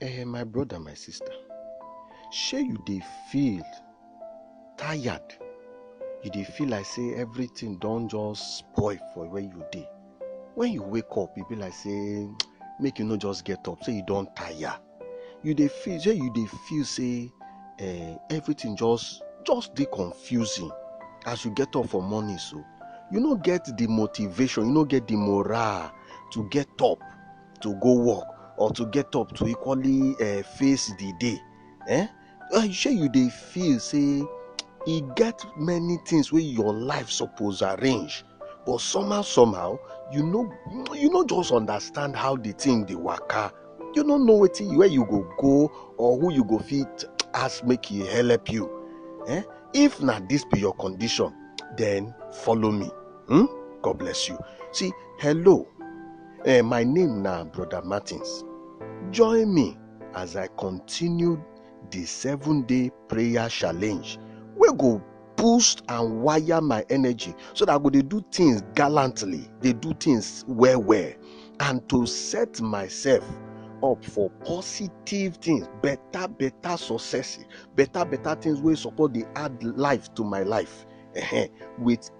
Eh, my brother, my sister, shey you dey feel tired? You dey feel like say everything don just spoil for where you dey? When you wake up, you be like say make you no just get up, say you don tire. You dey feel shey you dey feel say eh, everything just just dey confusing as you get up for morning so. You no get the motivation, you no get the morale to get up to go work or to get up to equally uh, face the day eh uh, shey you dey feel say e get many things wey your life suppose arrange but somehow somehow you no you no just understand how the thing dey waka you no know wetin where you go go or who you go fit ask make e help you eh if na this be your condition then follow me hmm? god bless you see hello Eh, my name na Brother Martins. Join me as I continue the seven day prayer challenge wey go boost and wire my energy so that I go dey do things gallantly, dey do things well well, and to set myself up for positive things, better better success, better better things wey suppose dey add life to my life eh, with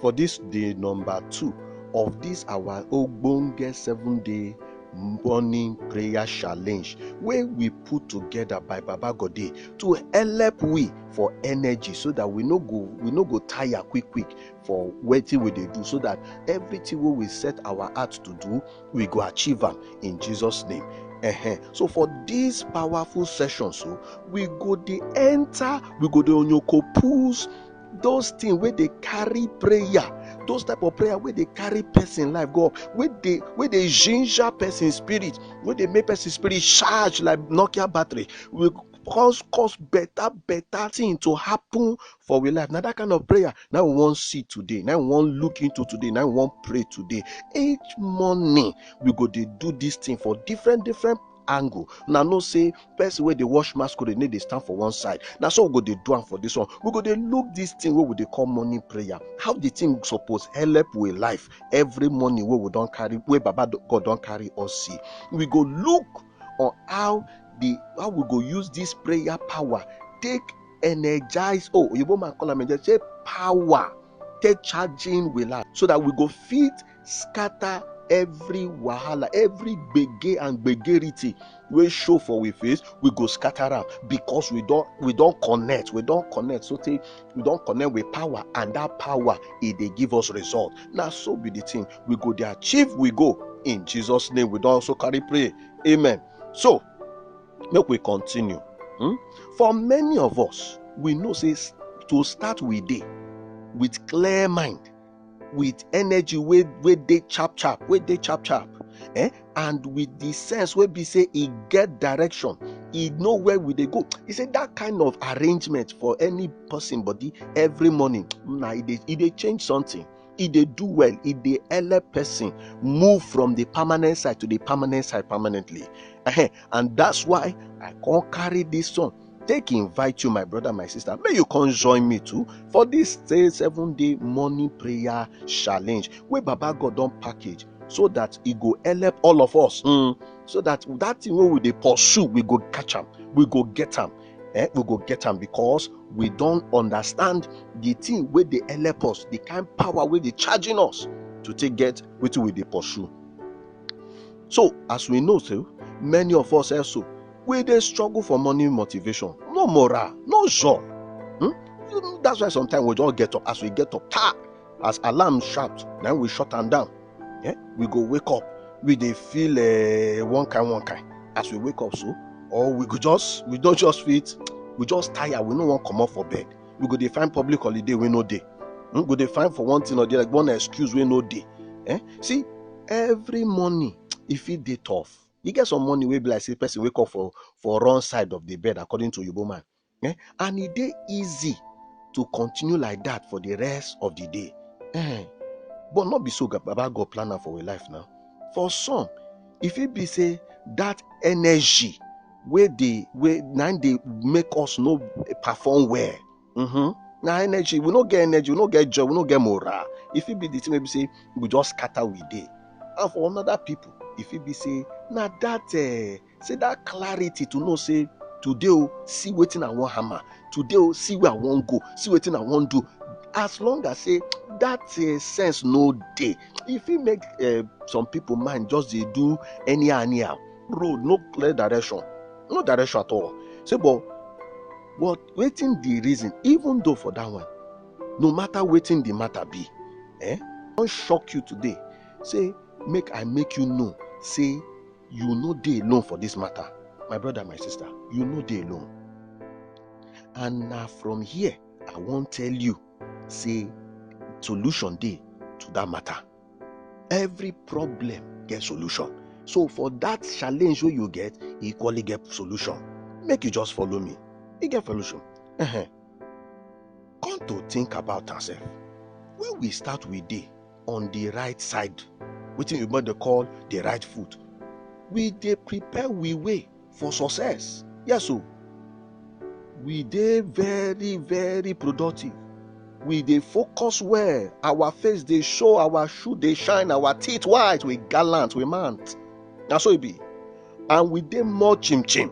for this day number two of this our ogbonge seven day morning prayer challenge wey we put together by baba gode to help we for energy so that we no go we no go tire quick quick for wetin we dey do so that everything wey we set our heart to do we go achieve am in jesus name uh-huh. so for this powerful session so we go dey enter we go dey onyoko pools those things where they carry prayer those type of prayer where they carry person life go where they where they ginger person spirit where they make person spirit charge like nokia battery we cause cause better better thing to happen for we life Now that kind of prayer Now we wan see today Now we wan look into today Now we wan pray today each morning we go to do this thing for different different angle una know say person wey dey wash masquerade need dey stand for one side na so we go dey do am for this one we go dey look this thing wey we dey call morning prayer how the thing suppose help we life every morning wey we don carry wey baba god don carry us see we go look on how the how we go use this prayer power take energize oh oyibo man call am energize say power take charging we life so that we go fit scatter every wahala every gbege and gbegerity wey show for we face we go scatter am because we don we don connect we don connect so tey we don connect with power and that power e dey give us result na so be the thing we go dey achieve we go in jesus name we don also carry pray amen so make we continue hmm? for many of us we know say to start we dey with clear mind with energy wey wey dey chap chap wey dey chap chap eh? and with the sense wey be say e get direction e know where we dey go e say that kind of arrangement for any person body every morning na e dey e dey change something e dey do well e dey help person move from the permanent side to the permanent side permanently and that's why i come carry this one take invite you my brother my sister may you come join me too for this seven day morning prayer challenge wey baba god don package so that e go help all of us mm, so that that thing wey we dey pursue we go catch am we go get am eh, we go get am because we don understand the thing wey dey help us the kind power wey dey charging us to take get wetin we dey pursue so as we know so many of us also wey dey struggle for morning motivation no morale no joy hmm? that's why sometimes we just get up as we get up ta as alarm shout na we shut am down yeah? we go wake up we dey feel uh, one kind one kind as we wake up so or we go just we don just fit we just tire we no wan comot for bed we go dey find public holiday wey no dey we hmm? go dey find for one thing or the other one excuse wey no dey eh? see every morning e fit dey tough E get some morning wey be like say person wake up for for wrong side of the bed according to Yobo man. Eh? And e dey easy to continue like that for the rest of the day. Eh? But not be so Baba God plan am for your life now. For some, if it be say that energy where they where now they make us no perform well mm-hmm. na energy we no get energy we no get joy we no get morale e fit be the thing wey be say we just scatter we dey and for another people e fit be say na that uh, say that clarity to know say today o see wetin i wan hammer today o see where i wan go see wetin i wan do as long as say that uh, sense no dey e fit make uh, some people mind just dey do anyhow anyhow road no clear direction no direction at all say but But wetin the reason even though for that one no matter wetin the matter be eh I don shock you today say make I make you know say you no dey alone for this matter my brother my sister you no dey alone and na from here I wan tell you say solution dey to that matter. every problem get solution so for that challenge wey you get e equally get solution make you just follow me e get solution uh-huh. come to think about am sef when we start we dey on the right side wetin oyibo dey call the right foot we dey prepare we way for success. Yes, so we dey very, very productive. We dey focus well. Our face dey show, our shoe dey shine, our teeth white, we gallant, we man. Na so e be. And we dey more chim chim,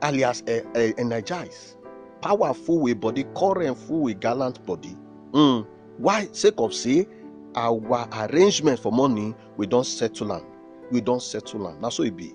alias eh, eh, energize, powerful with body, current full with gallant body. Mm. Why? Sake of say our arrangement for money, we don settle am. We don settle am. Na so e be.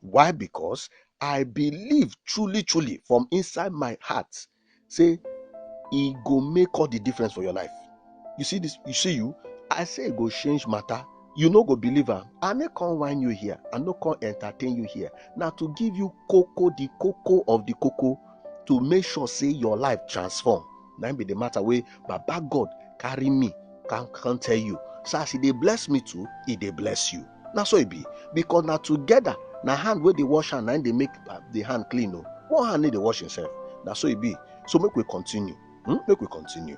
Why? Because I believe truly, truly from inside my heart, say it go make all the difference for your life. You see this, you see you. I say it go change matter. You no go believe am. I no come whine you here. I no come entertain you here. Now to give you cocoa, the cocoa of the cocoa, to make sure say your life transform. Now be the matter way Baba God carry me, can can tell you. So as he dey bless me too, he dey bless you. na so e be because na together na hand wey dey wash hand na im dey make uh, the hand clean o one hand no dey wash himself na so e be so make we continue hmm? make we continue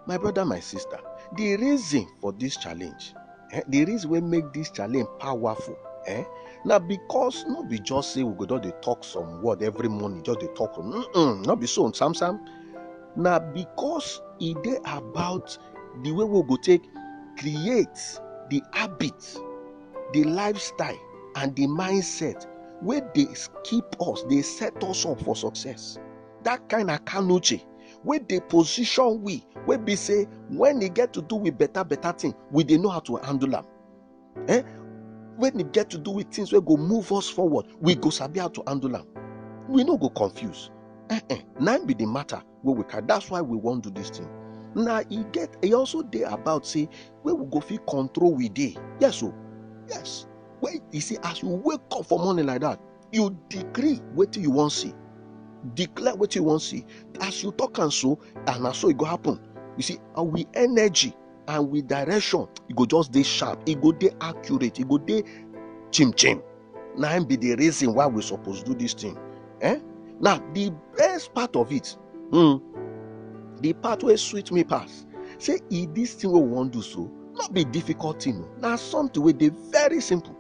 my brother my sister the reason for this challenge eh, the reason wey make this challenge powerful eh, na because no be just say we go just dey talk some word every morning just dey talk mm -mm, no be so sam sam na because e dey about the way we go take create the habit the lifestyle and the mindset wey dey keep us dey set us up for success that kind of kanoche wey dey position we wey be say when e get to do with better better thing we dey know how to handle am eh when e get to do with things wey go move us forward we go sabi how to handle am we no go confuse eh eh na be the matter wey we carry that's why we wan do this thing na e get e also dey about say wey we go fit control we dey yes o yes wey e say as you wake up for morning like that you decree wetin you wan see declare wetin you wan see as you talk am so and na so e go happen you see our energy and with direction e go just dey sharp e go dey accurate e go dey chim chim na im be the reason why we suppose do this thing eh now the best part of it hmm, the part wey sweet me pass say e this thing wey we wan do so no be difficult thing o na something wey dey very simple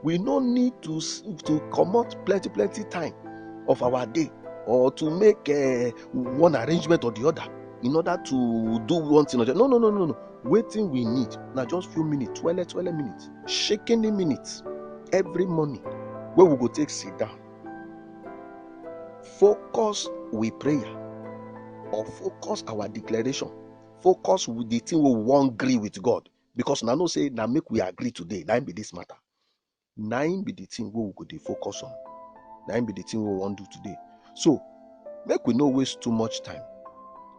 we no need to to comot plenty plenty time of our day or to make uh, one arrangement or the other in order to do one thing or the other no no no no no wetin we need na just few minutes twelve twelve minutes shaking the minutes every morning wey we go take sit down focus we prayer or focus our declaration focus with the thing wey we wan gree with god because una know say na make we agree today na be this matter na im be the thing wey we go dey focus on na im be the thing wey we wan do today so make we no waste too much time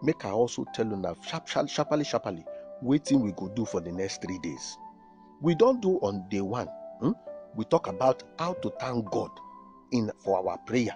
make i also tell una sharp sharp sharply sharply wetin we go do for the next three days we don do on day one hmm? we talk about how to thank god in for our prayer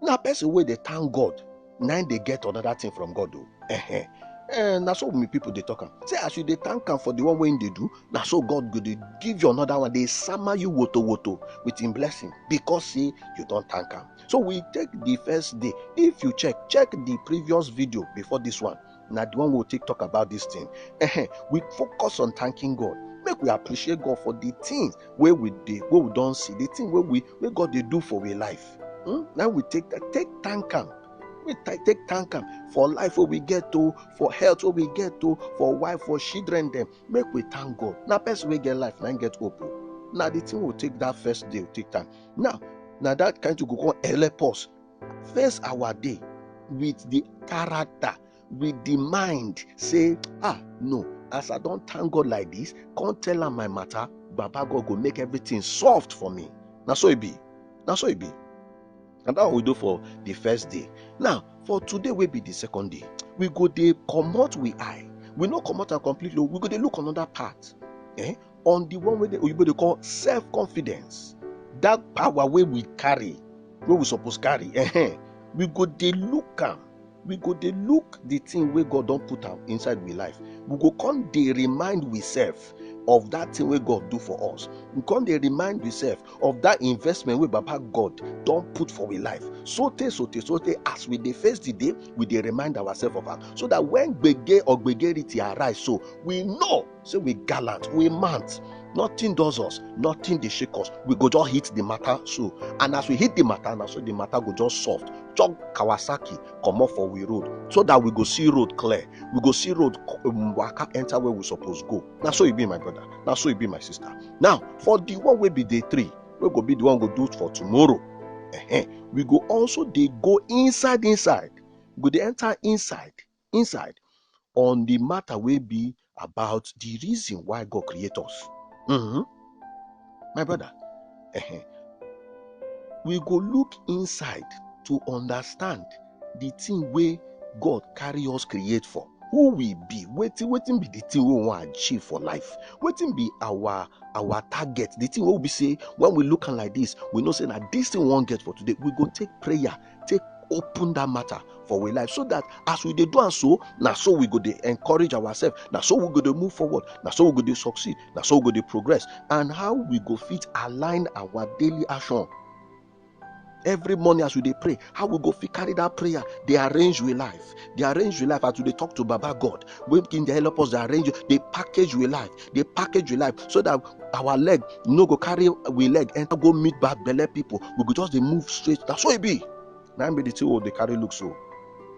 na person wey dey thank god na im dey get another thing from god o eh eh na so many people dey talk am say as you dey thank am for the one wey im dey do na so god go dey give you another one dey sama you woto woto with im blessing because say you don thank am so we take the first day if you check check the previous video before this one na the one we we'll take talk about this thing uh-huh. we focus on thanking god make we appreciate god for the things where we dey where we don't see the thing where we where god they do for our life hmm? now we take take thank him. we take thank him for life where we get to for health where we get to for wife for children them. make we thank god Now, best we get life na get hope Now the thing will take that first day take time now now that kind of go come help us face our day with the character with the mind say ah no as i don thank god like this come tell am my matter baba god go make everything soft for me na so e be na so e be and that one we do for the first day now for today wey be the second day we go dey comot we eye we no comot am completely we go dey look another part eh on the one wey the oyibo dey call self confidence that power wey we carry wey we suppose carry uh-huh. we go dey look am we go dey look the thing wey god don put am inside we life we go come dey remind we self of that thing wey god do for us we come dey remind we self of that investment wey baba god don put for we life so tey so tey so tey as we dey face the day we dey remind ourselves of am so that when gbege or gbegerity arise so we know say we gallant we mant nothing does us nothing dey shake us we go just hit the matter so and as we hit the matter na so the matter go just soft chop kawasaki comot for we road so that we go see road clear we go see road um, waka enter where we suppose go na so e be my brother na so e be my sister now for the one wey be day three wey go be the one go do for tomorrow uh-huh, we go also dey go inside inside we go dey enter inside inside on the matter will be about the reason why God created us. Mm-hmm. My brother, uh-huh. we go look inside to understand the thing where God carry us create for. Who we be? Waiting, waiting be the thing we want to achieve for life. Waiting be our our target. The thing we be say when we look like this, we know say that this thing won't get for today. We go take prayer take open that matter for we life so that as we dey do am so na so we go dey encourage ourselves na so we go dey move forward na so we go dey succeed na so we go dey progress and how we go fit align our daily action every morning as we dey pray how we go fit carry that prayer dey arrange we life dey arrange we life as we dey talk to baba god wey him dey help us dey arrange dey package we life dey package we life so that our leg no go carry we leg enter go meet bad belle people we go just dey move straight na so e be na be the thing we dey carry look so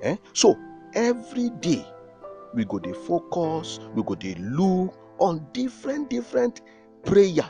eh so every day we go dey focus we go dey look on different different prayer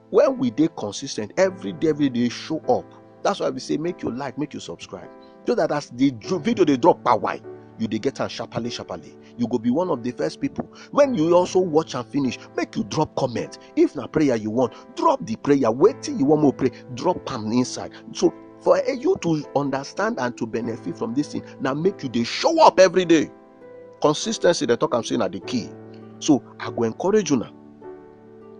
when we dey consis ten t every day every day show up that's why we say make you like make you subscribe so that as the video dey drop pa why you dey get am sharparly sharparly you go be one of the first people when you also watch am finish make you drop comment if na prayer you want drop the prayer wetin you wan make pray drop am inside so for you to understand and to benefit from this thing na make you dey show up every day consistency dem talk am say na the key so i go encourage una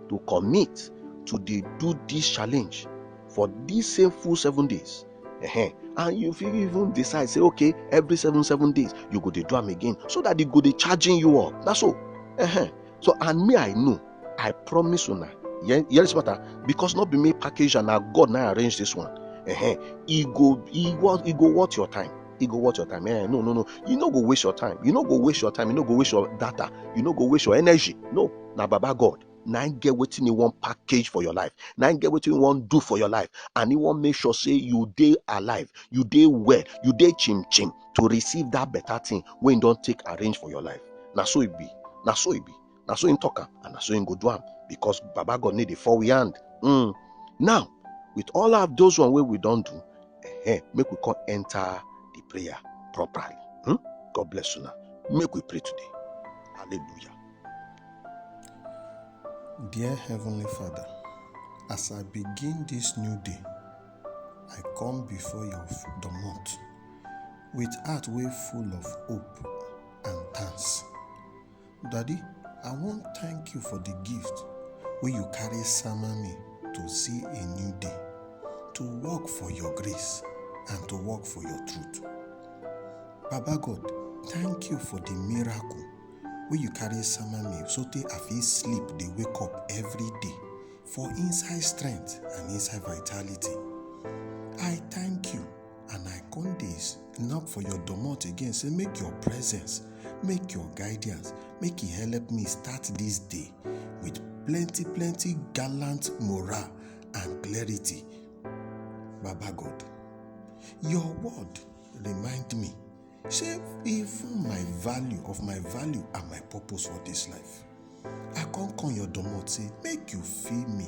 to commit to dey do this challenge for this same full seven days uh-huh. and you fit even decide say okay every seven seven days you go dey do am again so that e go dey charging you up na so uh-huh. so and me i know i promise una hear hear this matter because no be me package and na god na arrange this one uh-huh. e go e go e go worth your time e go worth your time eh no no no you no go waste your time you no go waste your time you no go waste your data you no go waste your energy no na baba god na im get wetin e wan package for your life na im get wetin e wan do for your life and e wan make sure say you dey alive you dey well you dey chim chim to receive that better thing wey e don take arrange for your life na so e be na so e be na so him talk am and na so him go do am because baba god need dey fall we hand mm. now with all of those one wey we don do eh, make we come enter the prayer properly hmm? god bless una make we pray today hallelujah. dear heavenly father as i begin this new day i come before your domot with heart wey full of hope and thanks. Daddy, I wan thank you for the gift wey you carry sama me to see a new day, to work for your grace and to work for your truth. Baba God, thank you for the miracle wey you carry sama me sotey I fit sleep dey wake up every day for inside strength and inside vitality. I thank you and i come dey snap for your domot again say make your presence make your guidance make e help me start this day with plenty plenty gallant morale and clarity baba god your word remind me say even my value of my value and my purpose for this life i come come your domot say make you fill me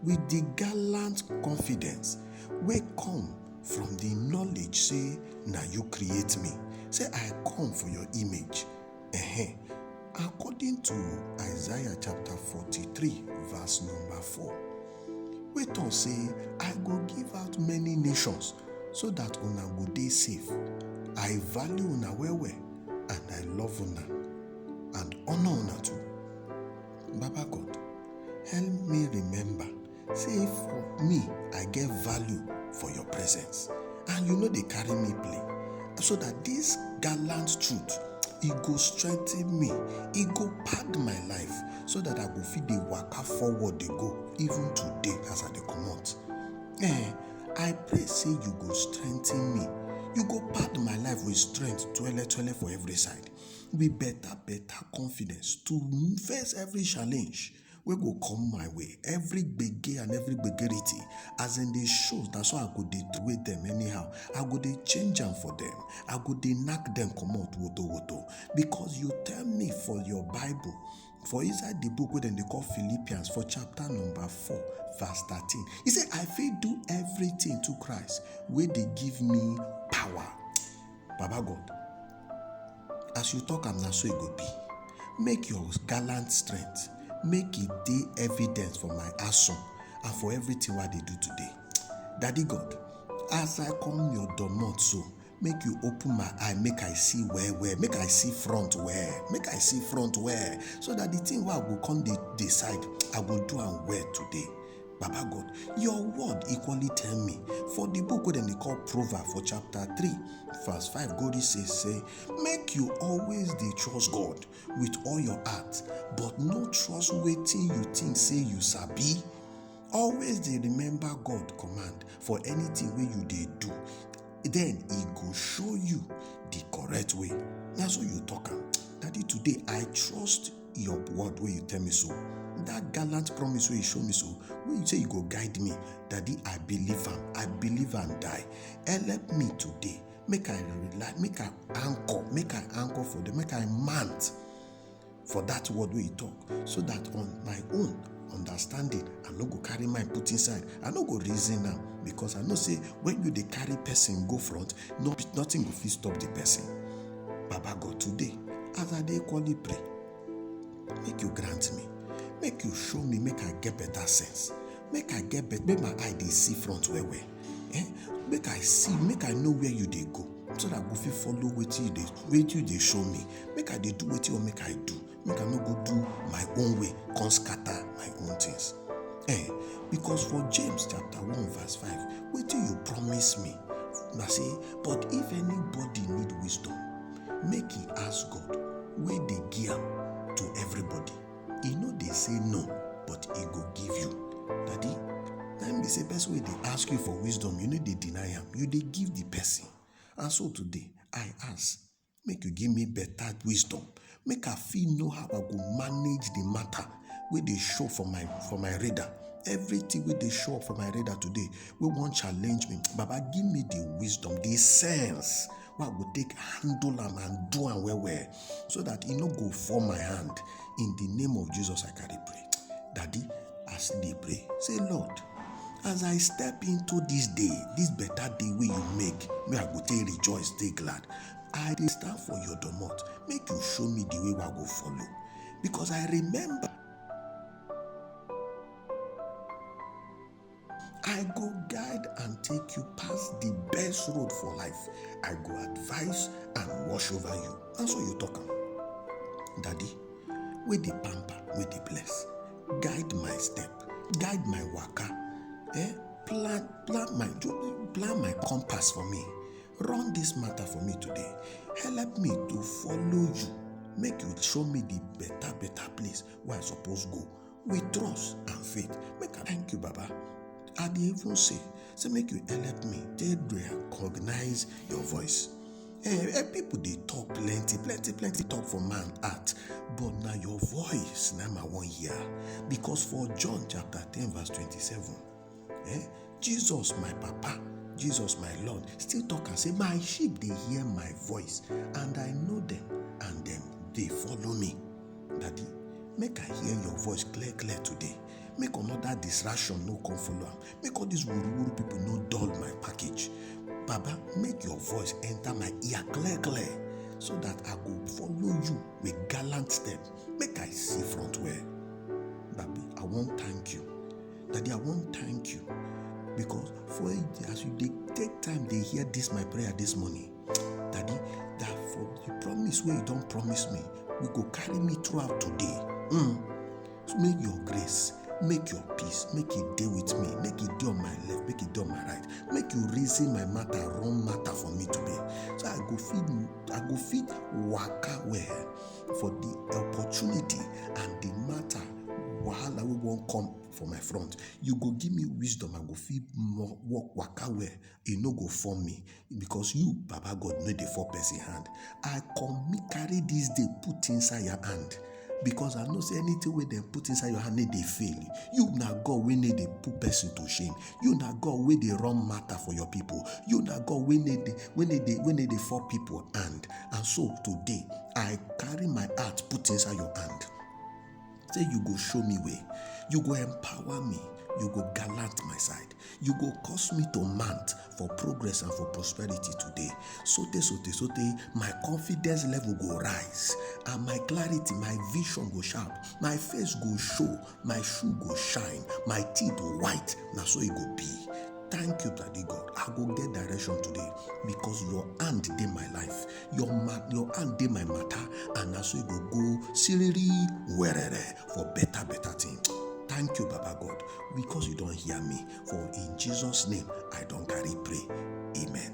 with the gallant confidence wey come from the knowledge say na you create me say i come for your image Ehen. according to isaiah chapter 43 verse number 4 wey talk say i go give out many nations so that una go dey safe i value una well well and i love una and honour una too Baba God, help me remember say for me, I get value for your presence and you no dey carry me play so that this gallant truth e go strengthen me, e go pack my life so that I go fit dey waka forward dey go even today as I dey comot. Eh, I pray say you go strengthen me, you go pack my life with strength twele twele for every side. wey better better confidence to face every challenge wey go come my way every gbege and every gbegerity as dem dey show na so i go dey throway dem anyhow i go dey change am for dem i go dey knack dem comot woto woto because you tell me for your bible for inside the book wey dem dey call philippians for chapter number 4 verse 13 e say i fit do everything to christ wey dey give me power Baba God, as you talk am na so e go be. Make your gallant strength make e dey evidence for my action and for everything wey I dey do today. Daddy God, as I come your domot so, make you open my eye make I see well well, make I see front well, make I see front well so that the thing wey I go come dey decide, I go do am well today. Baba God, your word equally tell me for the book wey dem dey call Proverb for chapter 3, verse 5 go reach say say make you always dey trust God with all your heart but no trust wetin you think say you sabi. Always dey remember God command for anything wey you dey do then e go show you the correct way. Na so you talk am. Daddy today I trust your word wey you tell me so that gallant promise wey you show me so wey you say you go guide me daddy i believe am i believe am die help me today make i rely make i anchor make i anchor for them make i mount for that word wey you talk so that on my own understanding i no go carry mind put inside i no go reason am because i know say when you dey carry person go front no be nothing go fit stop the person baba god today as i dey equally pray make you grant me make you show me make i get better sense make i get better make my eye dey see front well well eh make i see make i know where you dey go so that i go fit follow wetin you dey wetin you dey show me make i dey do wetin you want make i do make i no go do my own way come scatter my own things eh because for james chapter 1 verse 5 wetin you promise me na say but if anybody need wisdom make he ask god wey dey give am to everybody e no dey say no but e go give you daddy na im be say person wey dey ask you for wisdom you no dey deny am you dey give the person and so today i ask make you give me better wisdom make i fit know how i go manage the matter wey dey show for my for my radar everything wey dey show up for my radar today wey wan challenge me baba give me the wisdom the sense wey i go take handle am and do am well well so that e no go fall my hand in the name of jesus i carry pray daddy as they pray say lord As I step into dis day, dis beta day wey you make, wey I go take rejoice, dey glad. I dey stand for your domot, make you show me the way wey I go follow. Because I remember, I go guide and take you pass the best road for life. I go advise and watch over you. Na so you talk am. Daddy, wey dey pamper, wey dey bless. guide my step guide my waka eh plan plan my plan my compass for me run this matter for me today help me to follow you make you show me the better better place wey i suppose go with trust and faith make i thank you baba i dey even say say make you help me take recognize your voice Eh, eh, people dey talk plenty, plenty, plenty talk for man heart, but na your voice na my one hear. Because for John chapter 10, verse 27, eh, Jesus, my papa, Jesus, my Lord, still talk and say, My sheep dey hear my voice, and I know them, and them dey follow me. Daddy, make I hear your voice clear, clear today. Make another distraction no come follow am. make all these wuruwuru people no dull my package baba make your voice enter my ear clear clear so that i go follow you with gallant step make i see front well babi i wan thank you daddy i wan thank you because for as you dey take time dey hear this my prayer this morning daddy that for the promise wey you don promise me we go carry me throughout today mm. Make your grace, make your peace, make e dey with me, make e dey on my left, make e dey on my right. Make you reason my matter, run matter for me today. So I go fit, I go fit waka well for the opportunity and the matter wahala wey wan come for my front. You go give me wisdom, I go fit mo- walk waka well e no go fall me because you baba god no dey fall person hand i come carry this day put inside your hand because i know say anything wey dem put inside your hand no dey fail you na god wey no dey put person to shame you na god wey dey run matter for your people you na god wey no dey wey no dey wey no dey fall people hand and so today i carry my heart put inside your hand Say you go show me way, you go empower me, you go gallant my side, you go cause me to mount for progress and for prosperity today. Sote, sote, sote, my confidence level go rise, and my clarity, my vision go sharp, my face go show, my shoe go shine, my teeth go white. Na so e go be. Thank you, Daddy God. I go get direction today because your hand dey my life. your ma your hand dey my matter and na so e go go siriri werere for better better thing thank you baba god because you don hear me for in jesus name i don carry pray amen.